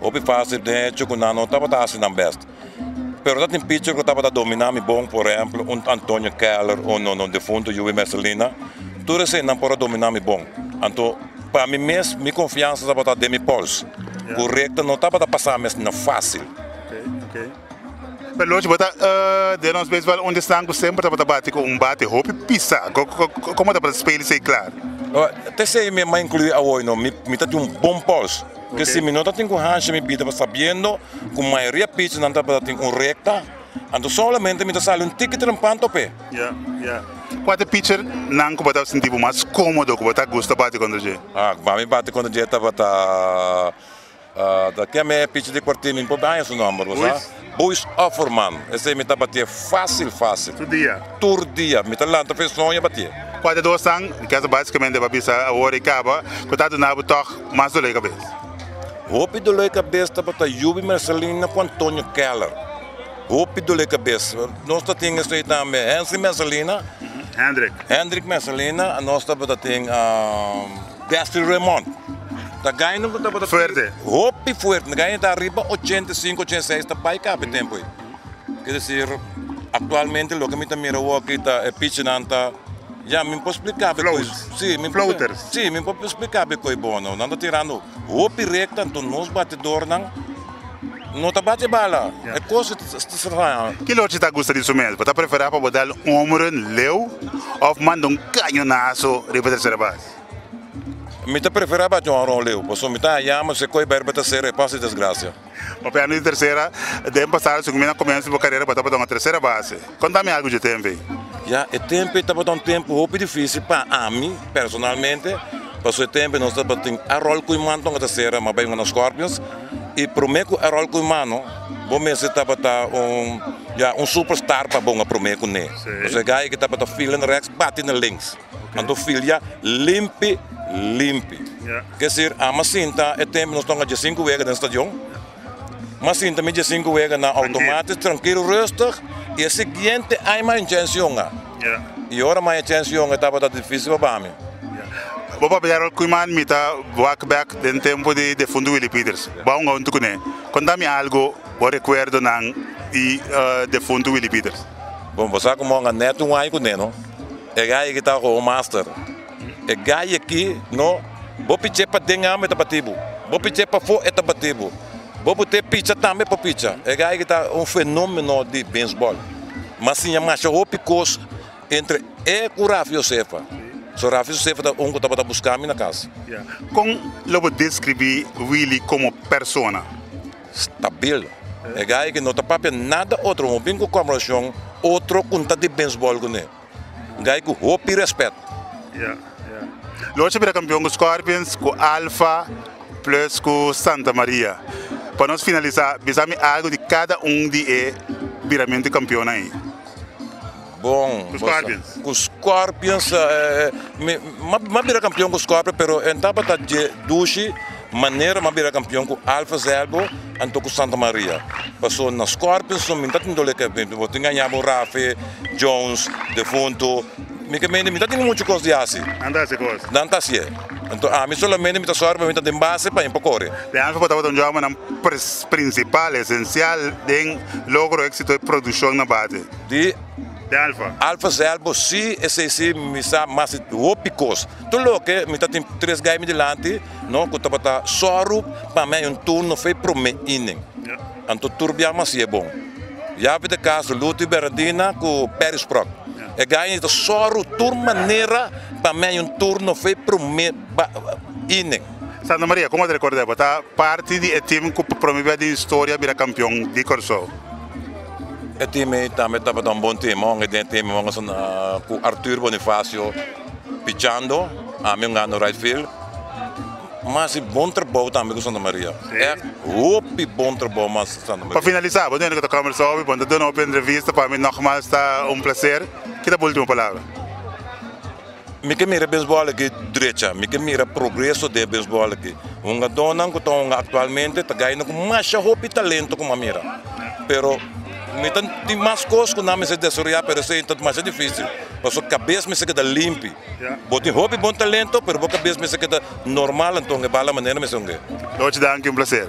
Hopi fásil den hecho ku nan no tabata hasi nan bèst. Pero tatin picher ku tabata dominá mi bon, por ehèmpel un Antonio Keller o no no difunto Yubi Mercelina. Tur eseinan por a dominá mi bon. Anto pa mi mes mi konfiansa tabata den mi pòls, ku rekta no tabata pasá mesna fásil. Pero lo bo ta den nos beisbòl unda esnan ku semper tabata bati ku un bate hopi pisa. Komo tabata spel esei klar? Te esei mi a inkluí awoy no, mi ta tin un bon pòls. Porque si mi no ta tin cu haci mi bida sabiendo cu mayoria pichnan tabata tin un recta, anto solamente mi ta sali un tiki trempanto p'e. Ya, ya. Cua ta e pitchernan cu bo ta sinti bo mas comodo, cu bo ta gusta bati contra dje? Ah, cu mami bati contra dje tabata, ah, ta kiami e pitcher di Cuartimi, mi por bay su nomber, bo sa. Boys of our man, esei mi ta batié fásil fásil. Tur dia? Tur dia, mi ta lanta fesnon i a batié. Kuater dos tan, mi kasa básikamente pa bisa awor i kaba, ku ta duna bo tòg mas doloi kabes? Hopi doloi kabes tabata Yubi Mercelina ku Antonio Keller. Hopi doloi kabes. Nos ta tin esei tambe Hensley Mercelina. Hendrik. Hendrik Mercelina, nos tabata tin. Destry Raymond ta gaino ku tabata fuerte hopi fuerte na gaino ta riba ochenta i sinku ochenta i seis ta bai kapi tempu ei kier desir aktualmente loke mi ta mira woki ta e pichinan ta ya mi por splika be koe si mi por si mi por splika be koe bono nan ta tirando hopi rekta anto nos batidornan. No ta bate bala, e cosa ta stranya. Kila ochi ta gusta di su mes, bo ta prefera pa bo dal un homerun leu of manda un cañonazo riba tercera base? Mi ta prefera bate un honron leu, pasobra mi ta haya mas e koe Berba ta sera e pas di desgracia. Papiando di tercera, den pasado si cu mi na comienzo di bo carera bo tabata un tercera base. Contami algo dje tempe. Ya, e tempe tabata un tempo hopi dificil pa ami personalmente, paso e tempe nos tabatin arol cu iman tonga ta cera ma bay una Scorpions y prome cu arol cu imano bo mester tabata un ya un super star pa bonga prome cu ne, paso e gaya ki tabata filen rex bati na links, anto filia limpi limpi, kier decir ama sinta e tempe nos tonga dje cinco wega den stadion. Mas sinta mi dje sinku wega nan outomatis trankilo rustig i e siguiente aña maya chens yunga. I ora maya chens yunga e tabata difisil pa bami. Bo papia di Harold Koeman, mi ta wak bek den tempu di defuntu Willie Peters. Bo a hunga huntu ku ne. Konta mi algu bo rekuerdonan di defuntu Willie Peters. Bon, bo sa ku mi a hunga net un aña ku ne no. E gaya ki ta Hall Master. E gay aki no bo piche pa den amo e ta bati bo bo piche pa fo e ta bati bo bo bo te picha tambe e por picha e gay aki ta un fenomeno di beisbol m'a siña masha hopi cos entre e cu Rafi Josefa so Rafi Josefa ta un cu tabata busca mi na casa. Con lo bo describi Willie como persona? Stabil e gay aki no ta papia nada otro hopi un conversacion otro cu ta di beisbol cu ne. Gai ku hopi respet. Ya, ya. Lo ocho bira kampion ku Scorpions, ku Alfa, plus ku Santa Maria. Pa nos finalisa, bisami algu di kada un di e biramentu di kampionnan ei. Bon, Ku Scorpions. Ku Scorpions, mi a bira kampion ku Scorpions pero e tabata dje dushi. Manera mi a bira kampion ku Alfes Elbo anto ku Santa Maria. Paso na Scorpions no mi ta tin dole kep. Mi por tin ngaña bo Rafe, Jones, Defunto. Mi ke mende mi ta tin muchu kos di hasi. Nan ta hasi kos. Nan ta hasi'e. Anto ami solamente mi ta sòru pa mi ta den base pa e por kore. Den Alfes bo tabata un jòbernan prinsipal, esensial den logro éksito e produshon na bate. Di. Den Alfes. Alfes Elbo si, esei si mi sa mas di hopi kos. Tur loke mi ta tin tres gaynan dilanti. No cu tabata soru pa mi hay un turno fe prome inning anto tur bia masi e bon yavi de caso luti beradina cu perry sprok e gaye ni ta soru tur manera pa mi hay un turno fe prome inning. Santa Maria como ta recorda bo ta parti di e team cu pa prome bia den historia a bira campeon di Corsou. E team ey tambe tabata un bon team honger den e team honger cu Arthur Bonifacio. Pichando ami un gano right field mas di bon trabou tambe ku Santa Maria echt hopi bon trabou mas Santa Maria. Pa finalisa bo nene ku ta kombersa hopi bo ta duna hopi entrevista pa mi nogmas ta un plaser ki ta bo ultimo palabra. Mi ke mira beisbol aki drecha mi ke mira progreso den beisbol aki hungadónan ku ta hunga aktualmente ta gaina ku masha hopi talento kuma mira pero mi ta tin mas kos ku nan mester desaroyá pero esei ta masha difisil Paso cabes mester keda limpi. Bo tin hopi bon talento pero bo cabes mester keda normal anto e bala manera mester ung'e. Loch danki un placer.